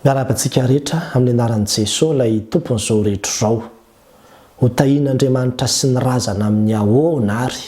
Miarahaba antsika rehetra amin'ny anaran'i Jeso ilay Tompon'izao rehetra izao. Ho tahian'Andriamanitra sy ny razana amin'ny ahoana ary?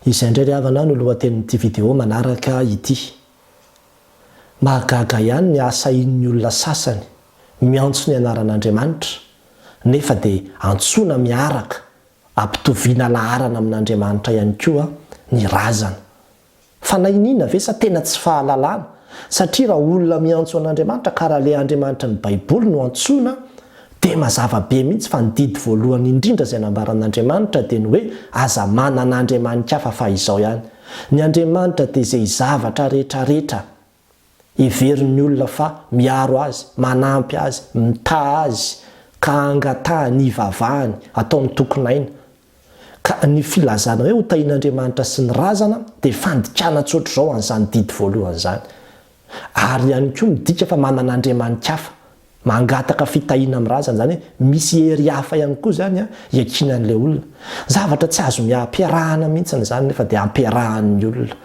Izay indray ry havana no lohatenin'ity video manaraka ity. Mahagaga ihany ny hahasahian'ny olona sasany miantso ny anaran'Andriamanitra nefa dia antsoina miaraka, ampitoviana laharana amin'Andriamanitra ihany koa ny razana. Fa na iniana ve sa tena tsy fahalalana? Satria raha olona miantso an'Andriamanitra ka raha ilay Andriamanitry ny Baiboly no antsoina dia mazava be mihitsy fa ny didy voalohany indrindra izay nambaran'Andriamanitra dia ny hoe aza manana andriamani-kafa fa izao ihany ny Andriamanitra dia izay zavatra rehetra rehetra Heverin'ny olona fa miaro azy, manampy azy, mitaha azy, ka angatahany hivavahany, atao ny tokin'aina. Ka ny filazana hoe hotahian'Andriamanitra sy ny razana dia fandikana tsotr'izao an'izany didy voalohany izany. Ary ihany koa midika fa manana andriamani-kafa, mangataka fitahiana amin'ny razana, izany hoe misy hery hafa ihany koa izany iakinan'ilay olona. Zavatra tsy azo ampiarahana mihitsy izany nefa dia ampiarahan'ny olona.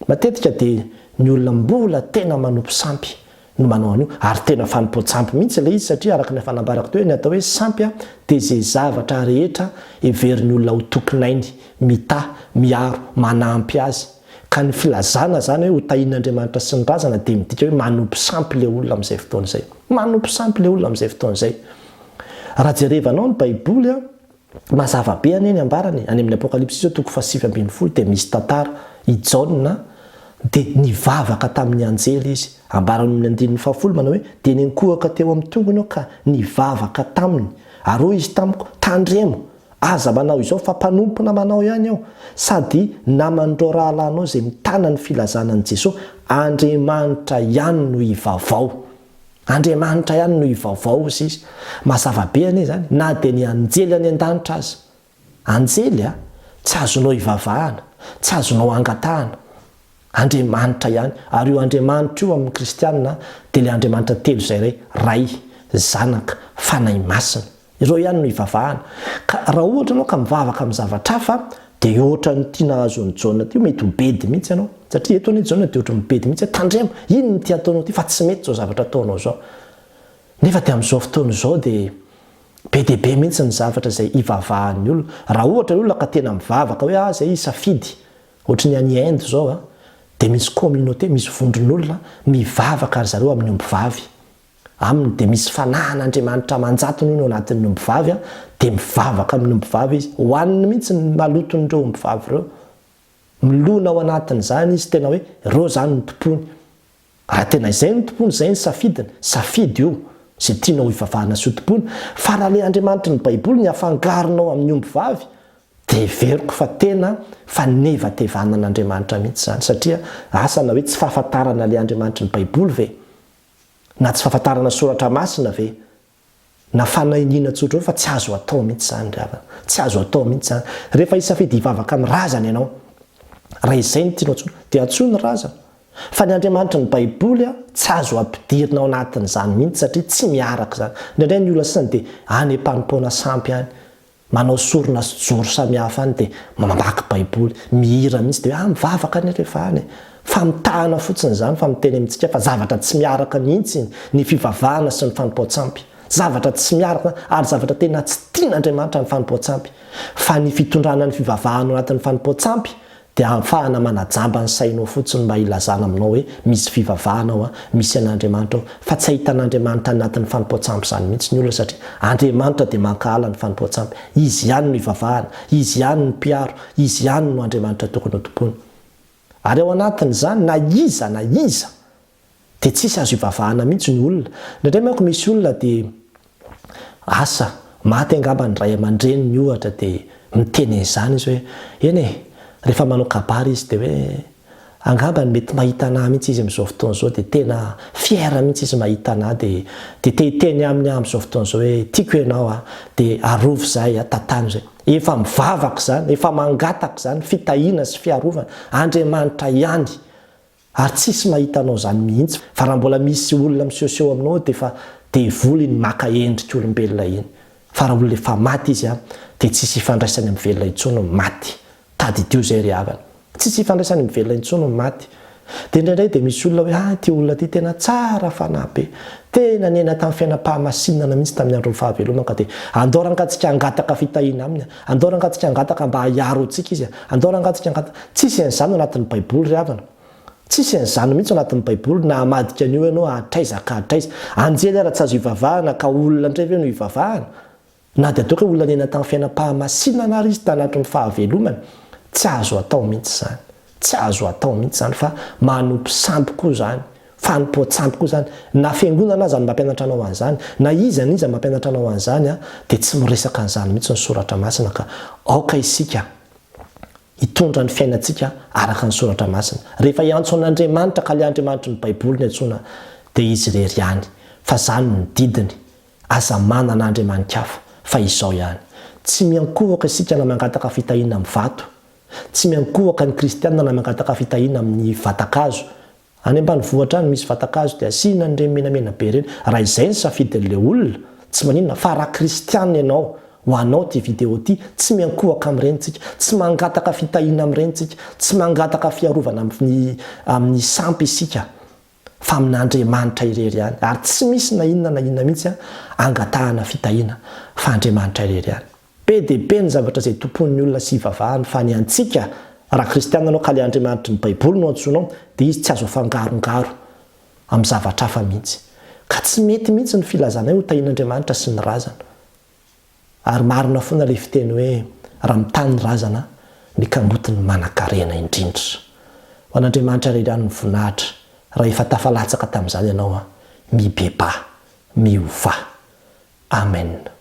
Matetika dia ny olona mbola tena manompo sampy no manao an'io, ary tena fanompoan-tsampy mihitsy ilay izy satria araka ny efa nambarako teo, ny atao hoe sampy dia izay zavatra rehetra heverin'ny olona ho tompon'ainy, mitaha, miaro, manampy azy. Ka ny filazana izany hoe hotahian'Andriamanitra sy ny razana dia midika hoe manompo sampy ilay olona amin'izay fotoana izay. Manompo sampy ilay olona amin'izay fotoana izay. Raha jerevanao ny Baiboly. Mazava be anie ny ambarany e, any amin'ny Apokalypsy izao toko fahasivy ambin'ny folo dia misy tantara, i Jaona dia nivavaka tamin'ny anjely izy, ambarany amin'ny andininy fahafolo manao hoe, dia niankohoka teo amin'ny tongony aho ka nivavaka taminy, ary hoy izy tamiko, tandremo, aza manao izao fa mpanompo namanao ihany aho, sady naman'ireo rahalahinao izay mitana ny filazana an'i Jesoa, Andriamanitra ihany no hivavao. Andriamanitra ihany no hivaovao, hoy izy. Mazava be anie izany, na dia ny anjely any an-danitra aza. Anjely a! Tsy azonao ivavahana, tsy azonao angatahana. Andriamanitra ihany. Ary io Andriamanitra io amin'ny kristiana dia ilay Andriamanitra telo izay iray, Ray, Zanaka, Fanahy Masina. Izao ihany no ivavahana. Ka raha ohatra ianao ka mivavaka amin'ny zavatra hafa, dia ohatran'ny ity nahazo an'i Jaona ity, mety ho bedy mihitsy ianao. Satria eto anie i Jaona dia ohatran'ny bedy mihitsy hoe, tandremo, inona ity ataonao ity fa tsy mety izao zavatra ataonao izao. Nefa dia amin'izao fotoana izao dia be dia be mihitsy ny zavatra izay ivavahan'ny olona. Raha ohatra ny olona ka tena mivavaka hoe ah izay hisafidy, ohatry ny any Inde izao an, dia misy communauté, misy vondron'olona mivavaka ry zareo amin'ny ombivavy. Aminy dia misy fanahan' Andriamanitra aman-jatony hono ao anatin' ny ombivavy an, dia mivavaka amin' ny ombivavy izy, hohaniny mihitsy ny maloton' ireo ombivavy ireo. Milona ao anatin' izany izy, tena hoe ireo izany no tompony. Raha tena izay no tompony, izay ny safidiny, safidy io, izay tianao hivavahana sy ho tompony. Fa raha ilay Andriamanitry ny Baiboly ny afangaronao amin' ny ombivavy, dia heveriko fa tena fanevatevanan' Andriamanitra mihitsy izany, satria asa na hoe tsy fahafantarana ilay Andriamanitry ny Baiboly ve? Na tsy fahafantarana soratra masina ve? Na fanahiniana tsotra eo fa tsy azo atao mihitsy izany ry havana. Tsy azo atao mihitsy izany. Rehefa hisafidy hivavaka amin'ny razana ianao, raha izay no tianao antsoina, dia antsoy ny razana. Fa ny Andriamanitry ny Baiboly tsy azo ampidirina ao anatin'izany mihitsy satria tsy miaraka izany. Indraindray ny olona sasany dia any am-panompoana sampy any Manao sorona sy joro samihafa any dia mamaky baiboly, mihira mihitsy dia hoe ah mivavaka anie rehefa any e! Famitahana fotsiny izany fa miteny amintsika fa zavatra tsy miaraka mihitsy ny fivavahana sy ny fanompoan-tsampy. Zavatra tsy miaraka ary zavatra tena tsy tian'Andriamanitra ny fanompoan-tsampy. Fa ny fitondrana ny fivavahana ao anatin'ny fanompoan-tsampy Dia ahafahana manajamba ny sainao fotsiny mba hilazana aminao hoe misy fivavahana ao, misy an'Andriamanitra ao. Fa tsy ahitana Andriamanitra any anatin'ny fanompoan-tsampy izany mihitsy ny olona satria Andriamanitra dia mankahala ny fanompoan-tsampy. Izy ihany no hivavahana, Izy ihany no mpiaro, Izy ihany no Andriamanitra tokony hotompoina. Ary ao anatin'izany na iza na iza Dia tsisy azo ivavahana mihitsy ny olona. Indraindray manko misy olona dia asa, maty angamba ny ray aman-dreniny ohatra dia miteny an'izany izy hoe, eny e, rehefa manao kabary izy dia hoe, angamba mety mahita anah mihitsy izy amin'izao fotoana izao dia tena fier mihitsy izy mahita anah dia dia te hiteny aminy aho amin'izao fotoana izao hoe, tiako ianao a, dia arovy izahay a, tantano izay. Efa mivavaka izany, efa mangataka izany, fitahiana sy fiarovana, Andriamanitra ihany Ary tsisy mahita anao zany mihitsy fa raha mbola misy olona misehoseho aminao dia efa devoly iny maka endrik'olombelona iny fa raha olona efa maty izy an dia tsisy hifandraisany amin'ny velona intsony ny maty tadidio zay ry havana tsisy hifandraisany amin'ny velona intsony ny maty dia indraindray dia misy olona hoe ah ity olona ity tena tsara fanahy be tena niaina tamin'ny fiainam-pahamasinana mihitsy tamin'ny andron'ny fahavelomany ka dia andao rangatsika hangataka fitahiana aminy an Andao rangah tsika angataka mba ahiaro antsika izy a! Andao rangah tsika angataka. Tsisy an'izany ao anatin'ny baiboly ry havana. Tsisy an'izany mihitsy ao anatin'ny baiboly na hamadika an'io ianao hatraiza ka hatraiza. Anjely ara tsy azo ivavahana ka olona indray ve no ivavahana? Na dia toa ka olona niaina tamin'ny fiainam-pahamasinana ary izy tanatin'ny fahavelomany, tsy azo atao mihitsy izany. Tsy azo atao mihitsy izany fa manompo sampy koa izany, fanompoan-tsampy koa izany. Na fiangonana aza no mampianatra anao an'izany, na iza na iza mampianatra anao an'izany dia tsy miresaka an'izany mihitsy ny Soratra Masina ka. Aoka isika hitondra ny fiainantsika araka ny Soratra Masina. Rehefa hiantso an'Andriamanitra ka ilay Andriamanitry ny Baiboly no iantsoana dia Izy irery ihany fa izany no didiny. Aza manana andriamani-kafa fa izao ihany. Tsy miankohoka isika na mangataka fitahiana amin'ny vato Tsy miankohoka ny kristiana na mangataka fitahiana amin'ny vatan-kazo. Any ambanivohitra any misy vatan-kazo dia asiana an'ireny menamena be ireny. Raha izay ny safidin'ilay olona, tsy maninona, fa raha kristiana ianao, ho anao ity video ity, tsy miankohoka amin'ireny isika, tsy mangataka fitahiana amin'ireny isika, tsy mangataka fiarovana amin'ny amin'ny sampy isika, fa amin'Andriamanitra irery ihany. Ary tsy misy na inona na inona mihitsy angatahana fitahiana fa Andriamanitra irery ihany. Be dia be ny zavatra izay tompoin'ny olona sy ivavahany fa ny antsika, raha kristiana ianao ka ilay Andriamanitry ny Baiboly no antsoinao, dia izy tsy azo afangarongaro amin'ny zavatra hafa mihitsy. Ka tsy mety mihitsy ny filazanay ho tahian'Andriamanitra sy ny razana. Ary marina foana ilay fiteny hoe raha mitaha ny razana ny kamboty ny manankarena indrindra. Ho an'Andriamanitra irery ihany ny voninahitra raha efa tafalatsaka tamin'izany ianao. Mibebaha. Miovà. Amena.